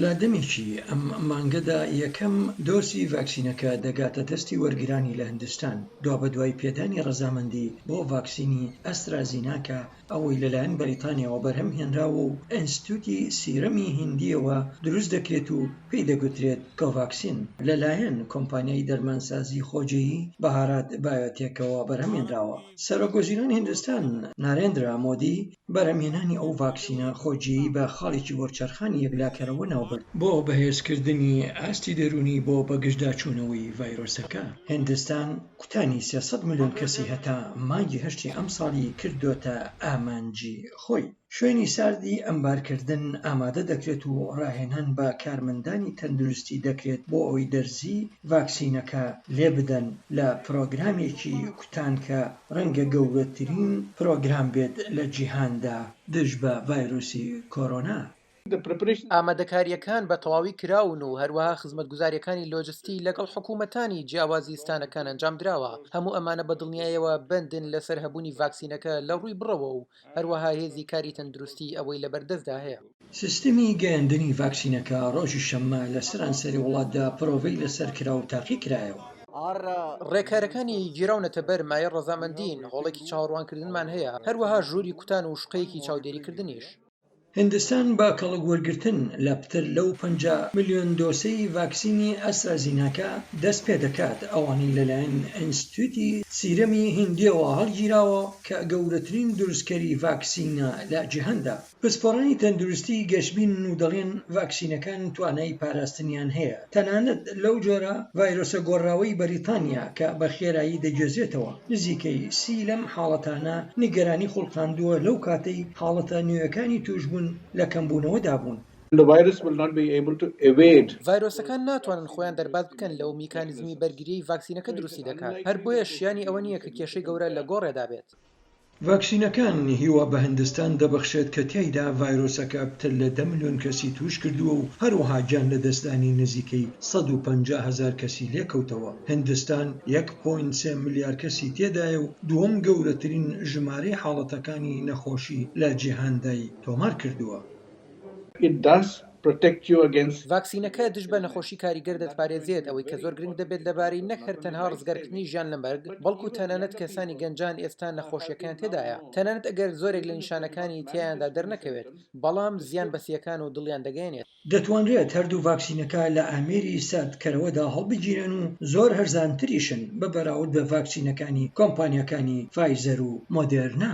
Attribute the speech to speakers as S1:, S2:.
S1: لە دەمێکی ئەم مانگەدا یەکەم دۆزی ڤاکسینەکە دەگاتە دەستی وەرگرانی لە هندستان، دوابەدوای پێدانی ڕەزامەندی بۆ ڤاکسینی ئەسترازیناکا، ئەوەی لەلایەن بەریتانیاوە بەرهەم هێنراوە و ئینستتیوتی سیرەمی هیندییەوە دروست دەکرێت و پێی دەگوترێت کۆڤاکسین، لەلایەن کۆمپانیای دەرمانسازی خۆجێیی بهارات بایۆتێکەوە بەرهەمهێنراوە. سەرۆکوەزیرانی هندستان نارێندرا مۆدی بەرهەمهێنانی ئەو ڤاکسینە خۆجێیی بە خاڵێکی وەرچەرخانی یەکلاکەرەوە ناوبرد بۆ بەهێزکردنی ئاستی دەروونی بۆ بەگژداچوونەوەی ڤایرۆسەکە. هیندستان کوتانی سێ سەد ملیۆن کەسی هەتا مانگی هەشتی ئەمساڵی کردۆتە ئامانجی خۆی. شوێنی ساردی ئەمبارکردن ئامادە دەکرێت و ڕاهێنان بە کارمەندانی تەندروستی دەکرێت بۆ ئەوەی دەرزیی ڤاکسینەکە لێبدەن لە پرۆگرامێکی کوتان کە ڕەنگە گەورەترین پرۆگرام بێت لە جیهاندا دژ بە ڤایرۆسی کۆرۆنا. ئامادەکارییەکان
S2: بە تەواوی کراون و هەروەها خزمەتگوزارییەکانی لۆجستی لەگەڵ حکوومەتانی جیاوازی ستانەکان ئەنجام دراوە، هەموو ئەمانە بە دڵنیایەوە بەندن لەسەر هەبوونی ڤاکسینەکە لە ڕووی بڕەوە و هەروەها هێزی کاری تەندروستیی ئەوەی لەبەردەستدا هەیە. سیستمی
S1: گەیاندنی ڤاکسینەکە ڕۆژی شەممە لە سەرانسەری وڵاتدا پرۆڤەی لەسەر کرا و تاقی کرایەوە.
S2: ڕێکارەکانی گیراونەتە بەر مایەی ڕەزامەندیین، هۆڵێکی چاوەڕوانکردنمان هەیە، هەروەها ژووری کوتان و شوقەیەکی چاودێریکردنیش. هیندستان
S1: بە کەڵک وەرگرتن لە پتر لەو پەنجا ملیۆن دۆسەی ڤاکسینی ئەسترازیناکا دەست پێ دەکات، ئەوانەی لەلایەن ئینستتیوتی سیرەمی هیندییەوە هەڵگیراوە کە گەورەترین دروستکەری ڤاکسینە لە جیهاندا. پسپۆڕانی تەندروستی گەشبینن و دەڵێن ڤاکسینەکان توانای پاراستنیان هەیە تەنانەت لەو جۆرە ڤایرۆسە گۆڕراوەی بەریتانیا کە بە خێرایی دەگوێزرێتەوە. نزیکەی سی لەم حاڵەتانە نیگەرانی خوڵقاندووە لەو کاتەی حاڵەتە نوێیەکانی تووشبوون لە کەمبوونەوەدا بوون.
S2: ڤایرۆسەکان ناتوانن خۆیان دەرباز بکەن لەو میکانیزمی بەرگرییەی ڤاکسینەکە دروستی دەکات، هەر بۆیەش شیانی ئەوە نییە کە کێشەی گەورە لە گۆڕێدا بێت. ڤاکسینەکان
S1: هیوا بە هندستان دەبەخشێت کە تیایدا ڤایرۆسەکە پتر لە دە ملیۆن کەسی تووشکردووە و هەروەها گیانلەدەستدانی نزیکەی سەد و پەنجا هەزار کەسی لێکەوتەوە، هندستان یەک پۆینت سێ ملیار کەسی تێدایە و دووەم گەورەترین ژمارەی حاڵەتەکانی نەخۆشی لە جیهاندای تۆمارکردووە. It does protect
S2: you against. ڤاکسینەکە دژ بە نەخۆشی کاریگەر دەتپارێزێت، ئەوەی کە زۆر گرنگ دەبێت لەبارەی نەک هەر تەنها ڕزگارکردنی ژیان لە مەرگ، بەڵکو تەنانەت کەسانی گەنجان ئێستا نەخۆشیەکەیان تێدایە تەنانەت ئەگەر زۆرێک لە نیشانەکانی تیایاندا دەرنەکەوێت، بەڵام زیان بە سییەکان و دڵیان دەگەیەنێت. دەتوانرێت هەردوو
S1: ڤاکسینەکە لە ئامێری ساردکەرەوەدا هەڵبگیرێن و زۆر هەرزانتریشن بە بەراورد بە ڤاکسینەکانی کۆمپانیاکانی فایزەر و مۆدێرنا.